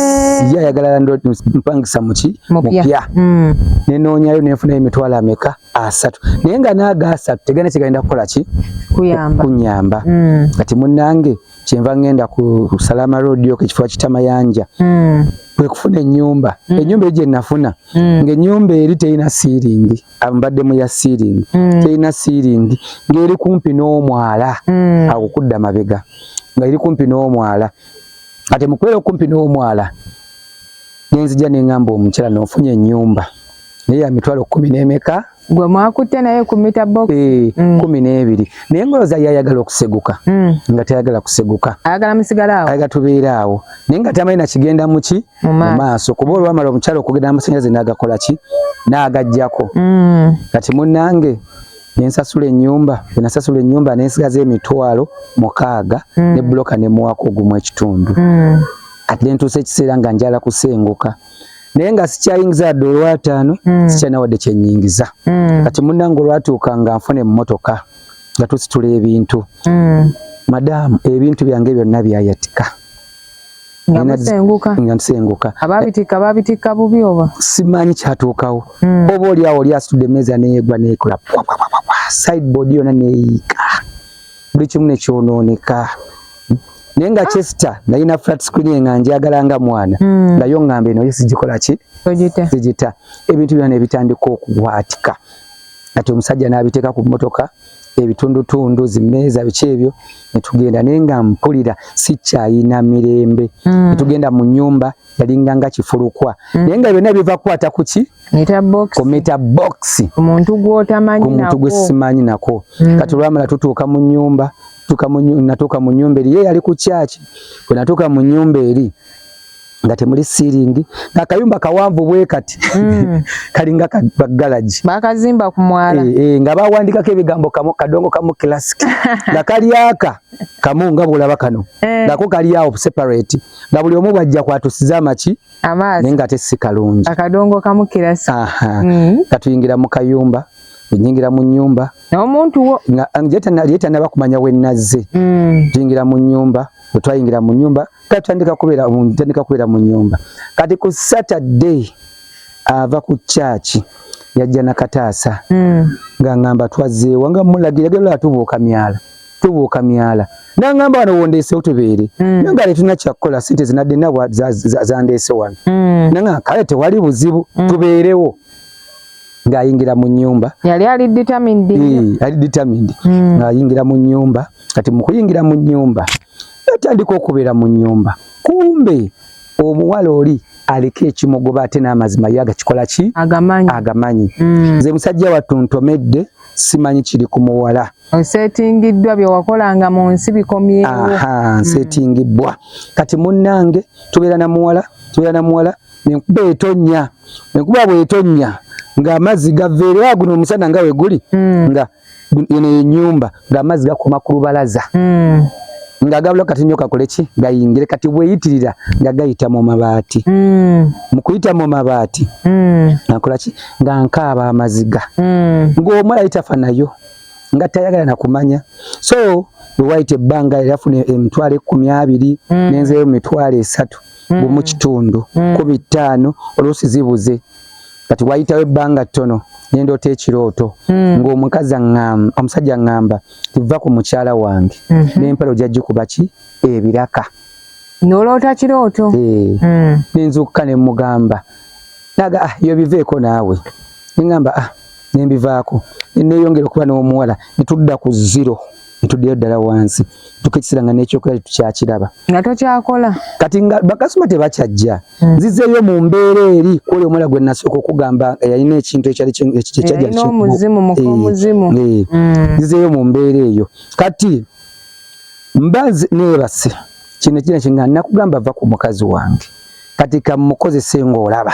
Speaker 2: ye ayagala mpangisa muki mupya mm. nenoonyayo nenfunayo emitwalo ameka asatu naye nga naaga asatu tegana kigenda kukola ki kunyamba mm. kati munange kyenva ngenda ku salama road yoko ekifo kitamayanja mm. kwekufuna enyumba mm. enyumba eyo gyenafuna mm. ngaenyumba eri terina siiringi mbadde mu ya siiringi mm. terina siiringi ng'eri kumpi n'omwala mm. awo kudda mabega nga eri kumpi n'omwala kati mukubeera okumpi n'omwala nenzija neŋamba omukyala nofunye enyumba naye yamitwalo kumi nemeka gwe mwakutte
Speaker 1: naye kumita box eh, mm. kumi n'ebiri
Speaker 2: naye ngoloza yayagala okuseguka mm. nga tayagala kuseguka ayagala musigala awo
Speaker 1: ayagala tubeera awo
Speaker 2: naye nga tamanyi nakigenda muki mu maaso kuba olwamala omukyala okugenda amasanyalaze nagakola ki nagajjako mm. kati munange nensasula enyumba enasasula enyumba nensigaza emitwalo mukaaga mm. ne buloka nemuwako ogumu ekitundu mm. kati nentuusa ekiseera nga njala kusenguka naye nga sikyayingiza adde olwataano mm. sikyalina wadde kyenyingiza mm. kati munange olwatuuka nga nfuna emmotoka nga tusitula ebintu mm. madaamu ebintu byange byonna byayatika nga musenguka nga nsenguka ababitika babitika
Speaker 1: bubi oba simanyi kyatuukawo
Speaker 2: mm. oba oli awo oli asitudde emmeeza neyegwa nekola sideboard yona neyiika buli kimu nekyonooneka naye nga ah. chester nalina flat screen nga njagala nga mwana mm. nayo ngamba eno yesigikola ki sigita ebintu byona nebitandika okubwatika kati omusajja nabiteeka ku mmotoka ebitundutundu zimeeza biki ebyo netugenda naye nga mpulira sikyayina mirembe mm. netugenda mu nyumba yalinga nga kifulukwa mm. naye nga byonna biva kukwata kuki ku mita box
Speaker 1: ku muntu
Speaker 2: gwesimanyi nako mm. kati olwamala tutuuka mu nyumba natuuka mu nyumba eri ye yali ku kyaki bwe natuuka mu nyumba eri nga temuli siiringi ng'akayumba kawanvu bwe kati mm. kalinga bagalagi bakazimba ku mwala
Speaker 1: e, e, nga bawandikako
Speaker 2: ebigambo kamu kadongo kamu classic nga kalyaka kamu nga bwolaba kano eh. ngako kalyawo separate nga buli omu bwajja kwatusiza amaki amaazi naye nga ate si kalungi akadongo kamu
Speaker 1: classic aha mm. katuyingira
Speaker 2: mu kayumba nyingira mu nyumba n'omuntu wo nga
Speaker 1: njeta naliyeta
Speaker 2: nabakumanya wenazze mm. jingira mu nyumba otwayingira mu nyumba kati tandika kubera mu tandika kubera mu nyumba kati ku saturday ava ku church yajja na kataasa mm. nga ngamba twaze wanga mulagira gelo atubuka myala tubuka myala na ngamba wano wondese otubere mm. nanga le tuna chakola sente zinade na wa za, za, za, za ndese wano mm. nanga kale te wali buzibu mm. tuberewo nga ayingira mu nyumba yali ali determined
Speaker 1: e, ali determined mm. nga ayingira
Speaker 2: mu nyumba kati mukuyingira mu nyumba yatandika okubeera mu nyumba kumbe omuwala oli aliko ekimogoba ate n'amazima ye agakikola ki agamanyi, agamanyi. Mm. nze musajja wattu ntomedde simanyi kiri ku muwala osetingiddwa
Speaker 1: byewakolanga mu nsi bikomyewo mm. nsetingibbwa
Speaker 2: kati munnange tubeera na muwala tubeera na muwala nenkuba etonnya enkuba bwetonnya ng'amazzi gaveerewa guno omusana nga weguli mm. nga eno enyumba ng'amazzi gakoma ku lubalaza mm. ng'agabula kati nyo kakole ki gayingire kati bweyitirira nga gayita mu mabaati mm. mu kuyita mu mabaati mm. akola ki nga nkaaba amaziga mm. ng'omwala yitafa nayo nga tayagala na kumanya so wewayita ebbanga yafuna emitwalo ekkumi abiri mm. nenzeyo mu mitwalo esatu mm. mu kitundu mm. ku bitaano oluusi zibuze kati wayitawo ebbanga ttono nendoota ekirooto hmm. ng'omukazi omusajja aŋŋamba tiva ku mukyala wange hmm. n'empala ojja gikuba ki ebiraka noloota
Speaker 1: kirooto eh. hmm. nenzuukuka
Speaker 2: ne mugamba naga ah yo biveeko naawe neŋŋamba ah nembivaako neeyongera okuba n'omuwala ne tudda ku ziro ntuddeyo ddala wansi tuka ekiseera nga n'ekyokola tetukyakiraba nga tokyakola
Speaker 1: kati nga bakasoma
Speaker 2: tebakyajja hmm. nzizeeyo mu mbeera eri kwoli omwala gwe nasooka okugamba yalina ekintu ekyali ekyajjaomuzimu
Speaker 1: mukomuzimu eh, eh, hmm. nzizeeyo
Speaker 2: mu mbeera eyo kati mba neebase kino ekina kinga nakugamba va ku mukazi wange kati kamukozese ng'olaba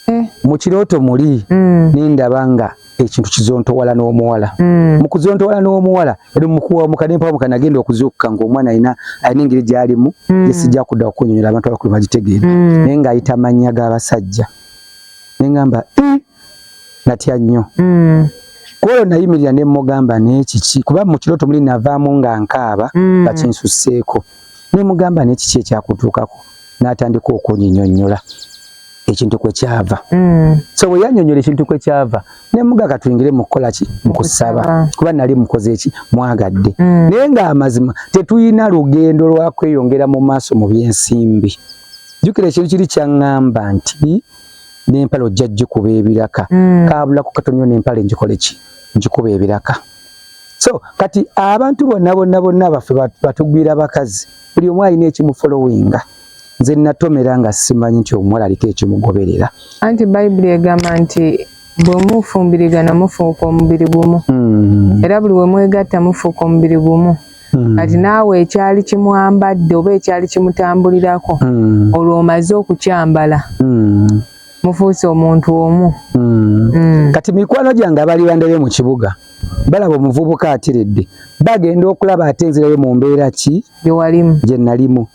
Speaker 2: eh. mu kirooto muli hmm. nindaba nga ekintu kizontowala n'omuwala mm. mu kuzontowala n'omuwala eri mukuwamuka nempawamuka nagenda okuzuukuka ng'omwana alina alina engeri gy'alimu mm. gyesijja kudda okunyonyola abantu abakulu bagitegeera mm. naye ng'ayita amannya g'abasajja ne ngamba eh, natya nnyo mm. kwolwo nayimirira ne mmugamba n'ekiki kuba mu kirooto muli navaamu nga nkaaba mm. bakinsusseeko nemugamba nekiki ekyakutuukako n'atandika okunyinyonnyola ekintu kwe kyava mm. so bwe yanyonyola ekintu kwe kyava ne mugaga tuyingire mu kukola ki mu kusaba kuba nali mukoze eki mwagadde mm. naye ng'amazima tetuyina lugendo lwa kweyongera mu maaso mu by'ensimbi jjukira ekintu kiri kyaŋŋamba nti n'empale ojja gikuba ebiraka mm. kaabulako katonyo n'empale njikole ki njikuba ebiraka so kati abantu bonna bonna bonna baffe batugwira bakazi buli omu alina ekimufolowinga nze natomera nga simanyi nti omuwala aliko ekimugoberera anti bayibuli
Speaker 1: egamba nti bwe mufumbirigana mufuuka omubiri gumu hmm. era buli we mwegatta mufuuka omubiri gumu hmm. kati naawe ekyali kimwambadde oba ekyali kimutambulirako hmm. olwo omaze okukyambala mufuuse omuntu omu mm. Mm. kati
Speaker 2: mikwano gyange abali bandebe mu kibuga balaba omuvubuka atiridde bagenda okulaba ate nzirayo mu mbeera ki gye nalimu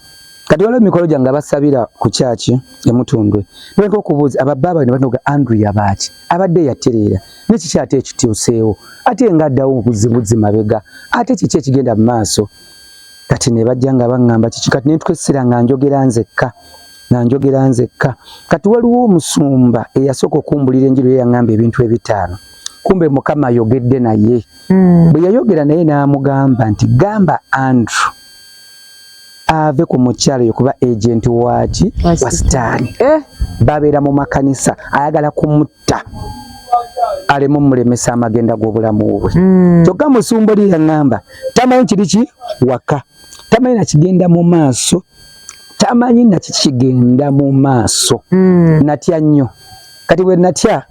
Speaker 2: kati waliwo emikolo gyange abasabira ku kyaki emutundwe noleka okubuuza ababaaba ne banoga andrew yabaaki abadde yatereera nekiki ate ekityuseewo ate nga addawo obuzibuzi mabega ate kiki ekigenda mu maaso kati ne bajja nga baŋŋamba kiki kati nentukesera nga njogera nzekka nga njogera nzekka kati waliwo omusumba eyasooka okumbulira enjiri ye yaŋŋamba ebintu ebitaano kumbe mukama ayogedde naye mm. bwe yayogera naye n'amugamba nti gamba andrew ave ku mukyalo yo kuba agenti waki wa sitaani eh? babeera mu makanisa ayagala kumutta aleme omulemesa amagenda g'obulamu bwe mm. kyokka mm. musumba oli yaŋŋamba tamanyi kiri ki waka tamanyi nakigenda mu maaso tamanyi na kiki kigenda mu maaso mm. natya nnyo kati bwe natya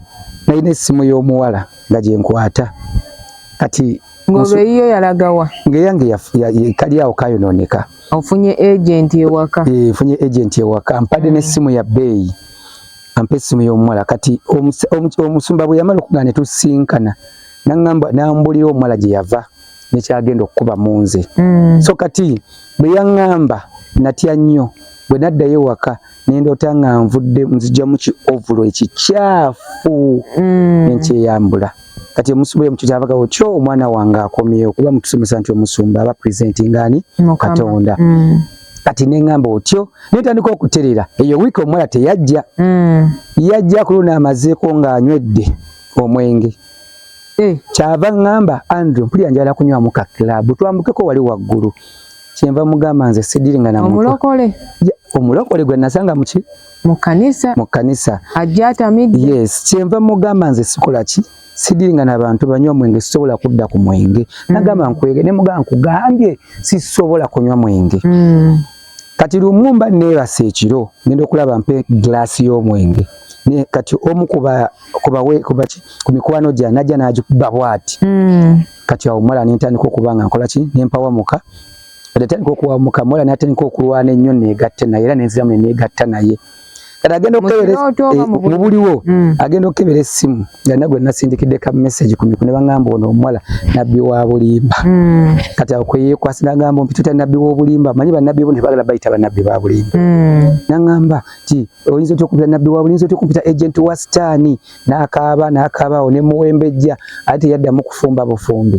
Speaker 2: nalina essimu y'omuwala nga gye nkwata kati ng'olweyiyo
Speaker 1: yalagawa ng'eyange
Speaker 2: kali awo kayonooneka ofunye
Speaker 1: agenti ewaka eh, nfunye agenti
Speaker 2: ewaka mpadde mm. n'essimu ya bbeeyi ampa essimu y'omuwala kati omusumba bwe yamala okugaa ne tusinkana naŋamba n'ambulira omuwala gye yava nekyagenda okukuba munze mm. so kati bweyaŋamba natya nnyo bwe naddayo ewaka nendoota nga nvudde nzijamu ki ovulo ekikyafu mm. nenkyeyambula kati omusuba oyo mukikyavaga otyo omwana wange akomyewo kuba mutusomesa nti omusumba aba presenti ngani katonda mm. kati neŋamba otyo netandika okuterera eyo wiiki omuwala teyajja mm. yajja kuluna amazeeko ng'anywedde omwenge eh, kyava ngamba Andrew mpulira njala kunywa muka club twambukeko wali waggulu kyenva mugamba nze sidiringa na omulokole omulokole gwe nasanga muki mu kanisa
Speaker 1: mu kanisa ajja atamidde yes kyenva
Speaker 2: mugamba nze sikola ki sidiringa na bantu banywa mwenge sisobola kudda ku mwenge mm. nagamba nkwege ne mugamba nkugambye sisobola kunywa mwenge mm. kati lumu mba neebasa ekiro ngenda okulaba mpe giraasi y'omwenge naye kati omu ku mikwano gya najja n'agikuba bwati hmm. kati awo mala nentandika okuba nga nkola ki nempawamuka atandika okuwamuka mala natandika okulwana ennyo negatte naye era nenziramu neneegatta naye kati agenda okukeberemubuliwo eh, mm. agenda okukebera essimu nga nagwe nasindikidde ka message ku mikune bagamba ono omuwala nabbi wa bulimba mm. kati awo kweyekwasi nagamba mpitutya nabbi w'obulimba manyi banabbi bo tebagala bayita banabbi ba bulimba mm. nagamba ti oyinza otya okumpita nabbi wa bulinza otya okumpita agent wa sitaani nakaaba nakaaba awo nemuwembejja ate yaddamu kufumba bufumbi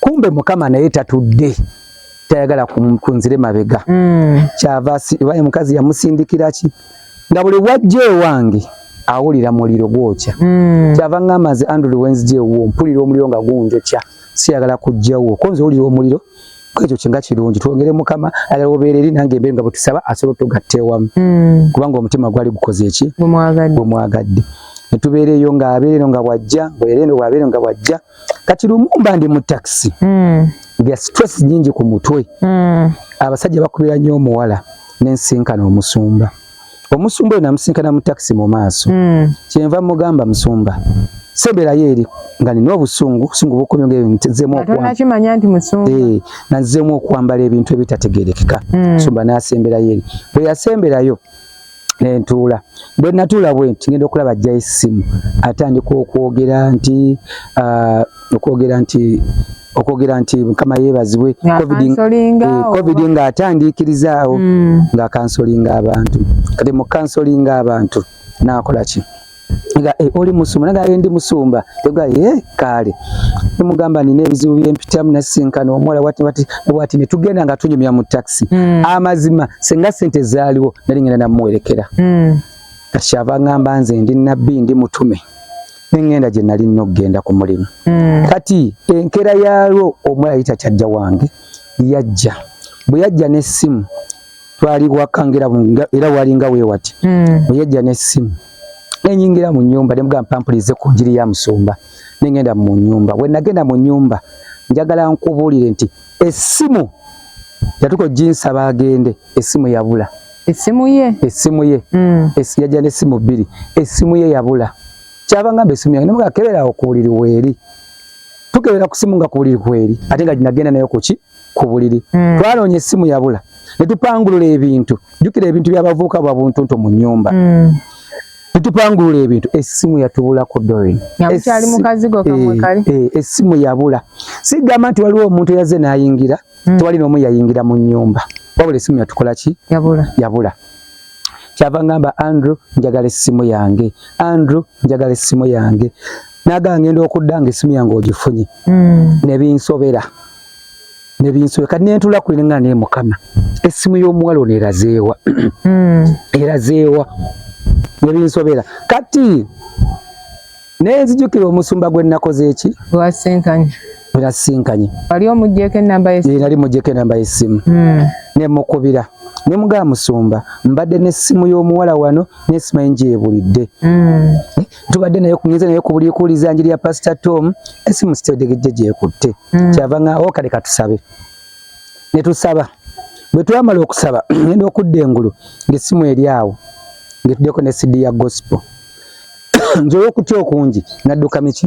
Speaker 2: kumbe mukama naye tatudde tayagala kunzire mabega mm. kyava waye mukazi yamusindikira ki nga buli wajja ewange awulira muliro gwokya mm. kyava ngamba nze andrew wenzija ewuwo mpulira omuliro nga gunjokya siyagala kujjawo ko nze owulira omuliro kwekyo kinga kirungi twongere mukama ayala obeera eri nange embeere nga bwetusaba asobola otugatta ewamu mm. kubanga omutima gwali gukoze eki gwemwagadde netubeera eyo ng'abeera eno nga bwajja bweera eno bwabeera eno nga bwajja kati lumumba ndi mu taxi mm. nga stress nyingi ku mutwe mm. abasajja bakubira nnyo omuwala nensinkana omusumba omusumba oyo namusinkana mu taxi mu maaso mm. kyenva mugamba musumba seberayo eri nga nina obusungu obusungu bukomye nga ebintu nzemu okwambala nti musumba eh nanzemu okwambala ebintu ebitategerekeka mm. musumba nasemberayo eri bwe yasemberayo nentuula bwe natuula bwe nti ngenda okulaba ajja essimu atandika okwogera nti ah, okwogera nti okwogera nti mukama yeebazibwe covid eh, nga atandiikirizaawo hmm. nga kansolinga abantu kati mu kansolinga abantu nakola ki nga eh, oli musumba naga yendi musumba yoga ye eh, kale mugamba nina ebizibu byempitamu nasinkana omuwala wati wati wati ne tugenda nga tunyumya mu taxi mm. amazima senga sente zaliwo nali ngenda namuwerekera mm. kashava ngamba nze ndi nabbi ndi mutume nengenda gye nali nno okugenda ku mulimu mm. kati enkera yalwo omuwala yita kyajja wange yajja bwe yajja n'essimu twali waka ngera era walinga wewati mm. oyajja ne simu nenyingira mu nyumba ne mugamba pampulize ku njiri ya musumba nengenda mu nyumba we nagenda mu nyumba njagala nkubulire nti esimu yatuko jinsa bagende esimu yabula esimu ye
Speaker 1: esimu ye mm. esi yajja ne
Speaker 2: simu biri esimu ye yabula kyaba ngamba esimu yange nemugamba kebera okubuliri weri tukebera kusimu nga kubuliri kweri ate nga jinagenda nayo kuki ku buliri mm. twalonye essimu yabula ne tupangulula ebintu jukira ebintu byabavuuka bwa buntuntu mu nyumba mm. ne tupangulula ebintu essimu yatubula ku dorin
Speaker 1: essimu yabula
Speaker 2: sigamba nti waliwo omuntu yaze nayingira mm. tewali nomu yayingira mu nyumba wabula essimu yatukola ki yabula, yabula. kyava ngamba andrew njagala essimu yange andrew njagala essimu yange naga ngenda okudda nga essimu yange ogifunye mm. nebinsobera nebinsobera kati nentula kulinga naye mukama essimu y'omuwala ono erazeewa mm. erazeewa nebinsobera kati Naye nzijukira omusumba gwe nnakoze eki? Gwasinkanye. Gwe nasinkanye. Wali omuggyeko ennamba
Speaker 1: y'essimu? Nali muggyeko ennamba y'essimu.
Speaker 2: Hmm. Ne mukubira. Ne mugamba musumba mbadde n'essimu y'omuwala wano n'essimu enje ebulidde. Hmm. Eh, tubadde naye kunyize naye ku buli kuuliza njiri ya Pastor Tom essimu sitetegejje gyekutte. Hmm. Kyava nga okale oh, katusabe. Ne tusaba. Bwe twamala okusaba ngenda okudda engulu ng'essimu eri awo ng'etuddeko ne CD ya gospel. nze olw'okutya okungi nadduka miki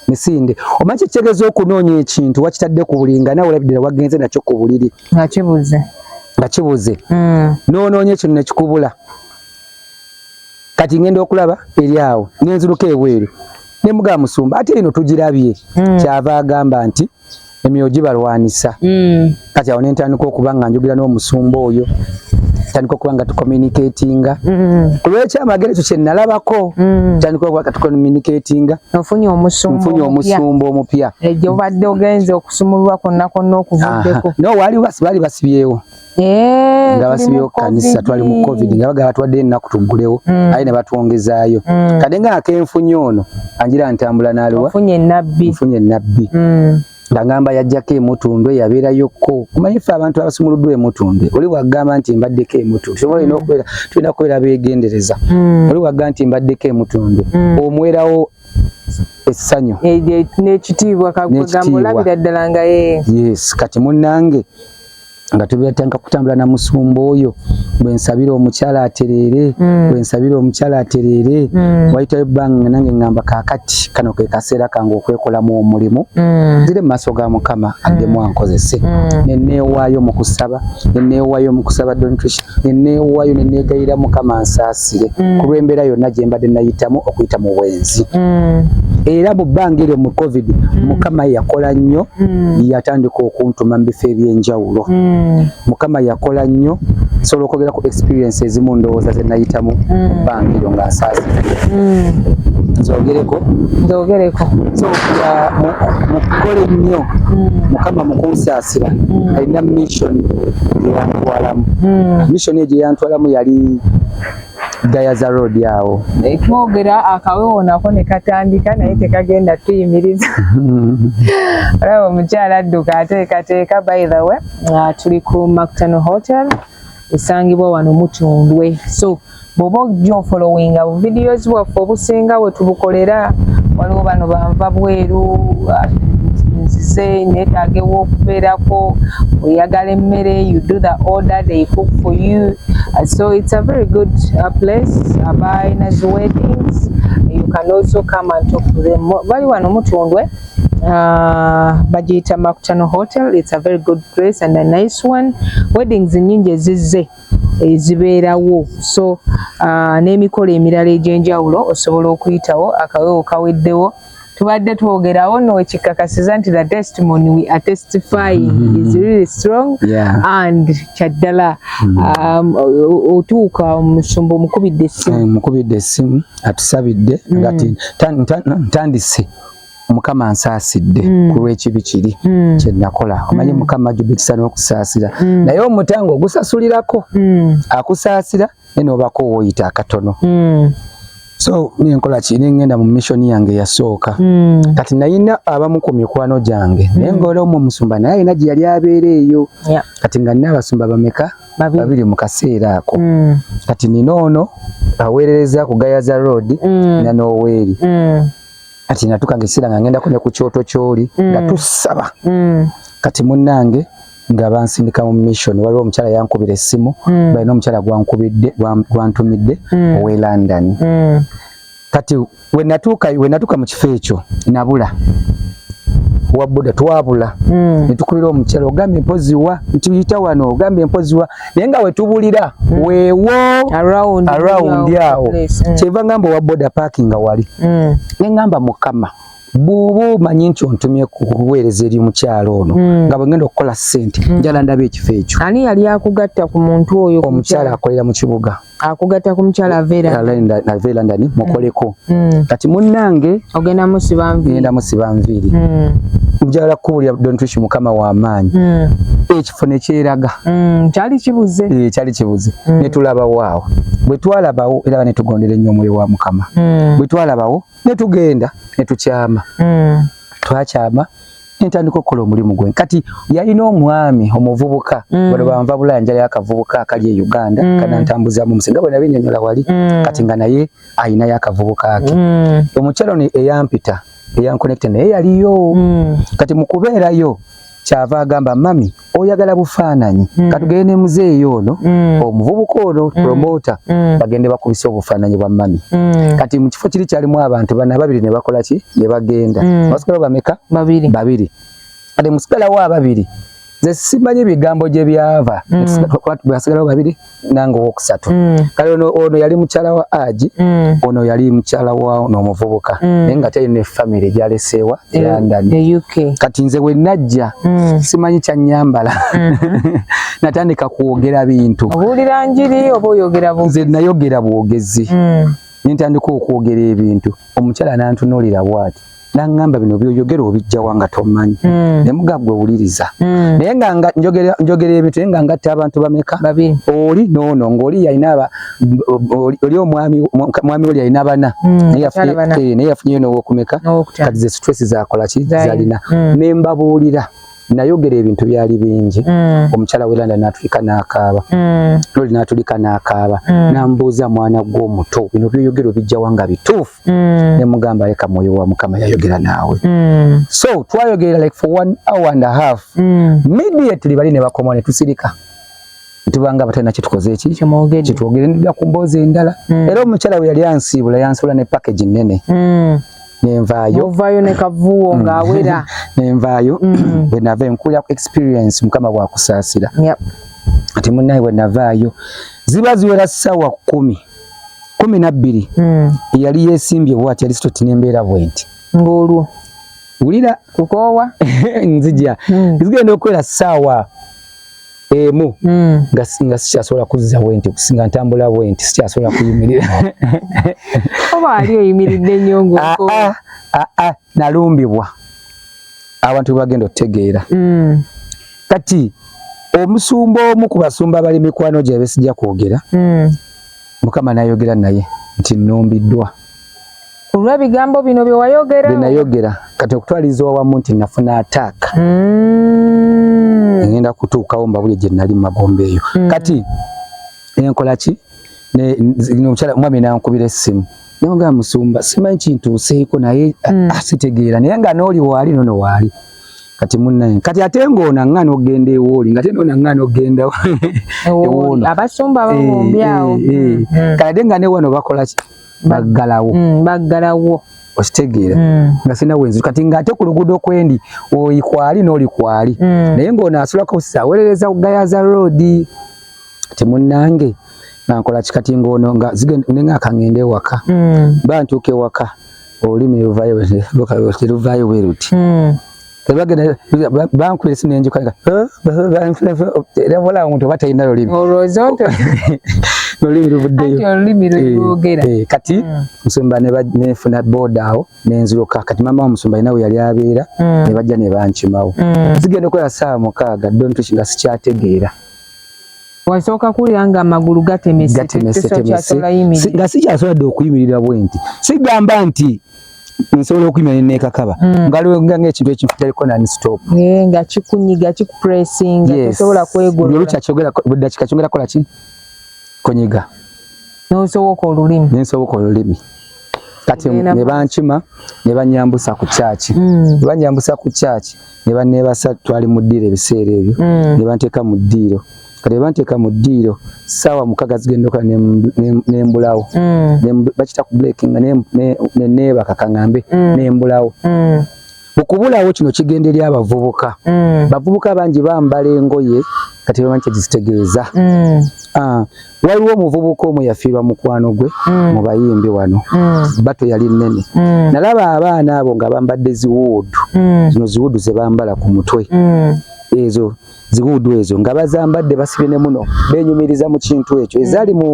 Speaker 2: misinde omanyi kyekitegeza okunoonya ekintu wakitadde ku buliri nga nawe olabidira wagenze nakyo ku buliri nga kibuze nga kibuze mm. n'onoonya ekino nekikubula kati ngenda okulaba eri awo nenziruka ebweru nemugaa musumba ate eno tugirabye mm. kyava agamba nti emyoyo gibalwanisa mm. kati awo nentandika okuba nga njogera n'omusumba oyo tandika okuba nga tucommunicatinga mm. kulwekyamagero ekyo kyenalabako mm. tandika okuba nga tucommunicatinga nfunye
Speaker 1: omusumba omupya ejo
Speaker 2: obadde ogenze
Speaker 1: okusumululwa kwonna kwonna okuvuddeko ah, no waliwo baali
Speaker 2: basibyewo Eh, nga basibyewo kanisa twali mu covid nga bagala twadde ennaku tuggulewo mm. aye ne batwongezaayo mm. kade nga akenfunye ono anjira ntambula nalowa nfunye
Speaker 1: enabbi
Speaker 2: mm. nga ngamba yajjako emutundwe yabeerayokko omanyi ffe abantu abasumuluddwa emutundwe oli wagamba nti mbaddeko emutundwe sobola olina okubeera tulina kubeera beegendereza oli wagamba nti mbaddeko emutundwe omwerawo essanyu
Speaker 1: n'ekitiibwa kagamba olabira ddala nga ye yes kati
Speaker 2: munnange nga tubyatanga kutambula na musumba oyo bwensabira omukyala atereere mm. bwensabira omukyala atereere mm. wayitayo ebbanga nange ngamba kakati kano ke kaseera kange okwekolamu omulimu mm. zire mu maaso ga mukama addemu ankozese neneewaayo mu kusaba neneewaayo mu kusaba dontricia neneewaayo neneegayira mukama nsaasire mm. kulw'embeera yonna gye mbadde nayitamu okuyita mu bwenzi mm. era mu bbanga eryo mu covid mm. mukama yakola nnyo mm. yatandika okuntuma mu bifo eby'enjawulo mm. mukama yakola nnyo sobola okwogera ku experience ezimu ndowooza ze nayitamu mu mm. bbanga eryo nga nsaasire mm. nzogereko nzogereko so uh, mukole nnyo mm. mukama mukunsaasira mm. alina mission yantwalamu hmm. mission eje yantwalamu yali Gayaza Road yawo twogera
Speaker 1: akawewo nako ne katandika naye tekagenda tuyimiriza olaba omukyala adduka ateekateeka by the way tuli ku Macton Hotel esangibwa wano Mutundwe so bwoba ojja ofolowinga bu videos bwaffe obusinga wetubukolera waliwo bano banva bweru ah, nzize netaaga ew'okubeerako oyagala emmere you do the order they cook for you uh, so it's a very good uh, place abalina uh, weddings you can also come and talk to them bali wano mutundwe Uh, bagiyita makutano hotel it's a very good place and a nice one weddings nyingi ezizze ezibeerawo so uh, n'emikolo emirala egy'enjawulo osobola okuyitawo akawewo kaweddewo tubadde twogerawo nokikakasiza nti the testimony we are testifying mm -hmm. is really strong yeah. and kyaddala mm -hmm. um, otuuka omusumba omukubidde essimu eh, mukubidde essimu atusabidde mm -hmm. ngati ntandise mukama ansaasidde mm. ku lw'ekibi kiri mm. kye nakola mm. omanyi mm. mukama ajubikisa n'okusaasira mm. naye omutango ogusasulirako mm. akusaasira naye n'obako wooyita akatono mm. so nenkola ki nengenda mu mission yange yasooka mm. kati nayina abamu ku mikwano gyange mm. naye ngaola omu omusumba naye alina gye yali abeera eyo yeah. kati nga nina abasumba bameka babiri mu kaseera ako mm. kati nina ono aweerereza ku gayaza road mm. nanoweeri mm. kati natuka ngesira nga ngenda kune ku kyoto kyoli mm. nga tusaba mm. kati munange nga bansindika mu mission waliwo omukyala yankubira essimu mm. balina omukyala gwankubidde gwantumidde mm. owe london mm. kati wenatuka wenatuka mu kifo ekyo nabula wabuda twabula mm. netukubira omukyala ogambye mpozi wa ntiyita wano ogambye mpozi wa naye nga wetubulira mm. wewo around awo mm. kyeva ngamba owa boda parking nga wali mm. naye ngamba mukama bwoba omanyi nti ontumye kuweereza eri omukyalo ono mm. nga bwegenda okukola sente mm. njala ndaba ekifo ekyo ani yali akugatta ku muntu oyo omukyalo akolera mu kibuga akugata ku mukyala avera avera ndani mm. mukoleko mm. kati munange ogenda musiba nviri ngenda musiba nviri mm. njala kubulya don't wish mukama wa maanyi ekifo ne kyeraga kyali kibuze eh kyali kibuze ne tulaba wao bwe twalabawo era ne tugondere nnyo omwoyo wa mukama bwe twalabawo ne tugenda ne tukyama twakyama nentandika okukola omulimu gwe kati yalina omwami omuvubuka mm. bano banva bulaya njala yakavubuka akali e uganda mm. kana ntambuzamu musinga bwe nabinyonyola wali mm. kati nga naye ayina yakavubuka ake mm. omukyalo ni eyampita eyankonekte naye yaliyo mm. kati mukubeerayo kyava agamba mami oyagala bufaananyi mm. katugende ne muzeeyi ono mm. omuvubuka ono mm. promota mm. bagende bakubisa obufaananyi bwa mami mm. kati mu kifo kiri kyalimu abantu bana babiri ne bakola ki ne bagenda mm. basigala bameka babiri, babiri. kati musigalawo ababiri nze
Speaker 2: simanyi ebigambo gye byava mm. basigalawo babiri nange owokusatu mm. kale ono, ono yali mukyala wa aji mm. ono yali mukyala wa nomuvubuka mm. naye nga teri ne famiry gyaleseewa e london e kati nze wenajja mm. simanyi kyanyambala mm -hmm. natandika kwogera bintu obuulira njiri
Speaker 1: oba oyogera bwogezi nze nayogera bwogezi
Speaker 2: mm. nentandika okwogera ebintu omukyala nantunulira bwati nangamba bino byoyogera obijjawa nga tomanyi mm. nemugagwe owuliriza mm. naye nga njogera ebintu naye nga ngatta abantu bameka oli
Speaker 1: nono ngaoli
Speaker 2: yalina oli omwami oli yalina bana mm, naye yafunyeyo eh, nowokumeka kati zesitwesi zakolaki zalina mm. nembabuulira nayogera ebintu byali bingi mm. omukyala we landa natulika nakaaba mm. loli natulika nakaaba mm. nambuuza mwana gwe omuto bino byoyogera obijjawa nga bituufu mm. nemugamba leka mwoyo wa mukama yayogera naawe mm. so twayogerera like for one hour and a half mm. immediately bali nebakomawo netusirika tuba nga abatalina kyetukoze eki kyetwogere nda ku mboozi endala mm. era omukyala we yali ansiibula yansiibula ne package nnene mm. nenvaayo ovaayo ne kavuuwo
Speaker 1: mm. ng'awera nenvaayo
Speaker 2: mm. bwe nava enkuulira ku experience mukama bwakusaasira kati munnaye bwe navaayo ziba ziwera ssaawa kkumi kumi nabbiri mm. eyali yeesimbye bwati yali sitoti n'embeera bwenti ng'olwo
Speaker 1: wulira
Speaker 2: kukoowa
Speaker 1: nzija
Speaker 2: zigenda okwera ssaawa emu mm. nga nga sikyasobola kuzza bwenti kusinga ntambula bwenti sikyasobola kuyimirira
Speaker 1: oba ali oyimiridde nnyo ng'oko aa ah, aa ah, ah,
Speaker 2: nalumbibwa abantu bagenda otegeera mm. kati omusumba omu ku basumba bali mikwano gye besijja kwogera mm. mukama nayogera naye nti nnumbiddwa kulwa
Speaker 1: bigambo bino bye wayogera bye nayogera kati
Speaker 2: okutwaliza wamu nti nafuna attack mm. ngenda kutuukawo mbabuli gye nali magomba eyo mm. kati enkola ki omukyala mwami nankubira essimu nanga musumba simanyi kintuuseeko naye mm. asitegeera naye nga nooli waali nono waali kati munnaye kati ate ng'ona ng'ana okugenda ewooli nga te nona ng'ana okugenda ewoono abasumba babombyawo
Speaker 1: eh, eh, eh, mm, mm. kati ate nga
Speaker 2: ne wano bakola ki baggalawo mm, baggalawo
Speaker 1: okitegeera mm.
Speaker 2: nga sina wenzi kati nga ate ku luguudo kwendi oli kwali n'oli kwali mm. naye ng'ono asulako sawerereza ku gayaza roodi ti munnange nga nkola kikati ng'ono nga nenga akangenda ewaka mm. ba ntuuka ewaka olulimi luvaayo bwe luti mm. bagenda bankuba esimu enjuka nga era wala omuntu oba talina lulimi
Speaker 1: olulimi
Speaker 2: luvuddeyo
Speaker 1: kati
Speaker 2: musumba nenfuna boda awo nenziruka kati mama wa musumba nawe yali abeera nebajja nebankimawo zigenda okola saawa mukaaga dontuki nga sikyategeera
Speaker 1: wasooka kuwulira nga amagulu gatemesetemese
Speaker 2: nga sikyasobola dde okuyimirira bwenti sigamba nti nsobola okuyima ne neekakaba hmm. ngalwenga ng'ekintu ekintu kitaliko nani stop eh, nga kikunyiga
Speaker 1: kikupressinga tosobola kwegolola olukya kyogera buddakika
Speaker 2: kyongera kola ki kunyiga
Speaker 1: n'osoboka olulimi n'ensoboka olulimi
Speaker 2: kati ne bankima ne banyambusa ku kyaki mm. banyambusa ku kyaki ne baneebasa twali mu ddiiro ebiseera ebyo mm. ne banteeka mu ddiiro mm. kati banteeka mu ddiiro ssaawa mukaga zigendoka nembulawo mm. bakita ku blake nga neneebaka kaŋambe mm. nembulawo mm. okubulawo kino kigenda eri abavubuka bavubuka bangi bambala engoye kati bamanyi kyekizitegeeza ah, waliwo omuvubuka omu yafiirwa mukwano gwe mu bayimbi wano bato yali nnene nalaba abaana abo nga bambadde ziwuudu zino ziwuudu ze bambala ku mutwe ezo ziguudu ezo nga bazambadde basibye ne muno benyumiriza mu kintu ekyo ezaali mu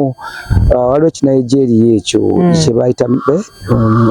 Speaker 2: uh, waliwo ekinayijeeriya ekyo mm. kyebayita eh, um,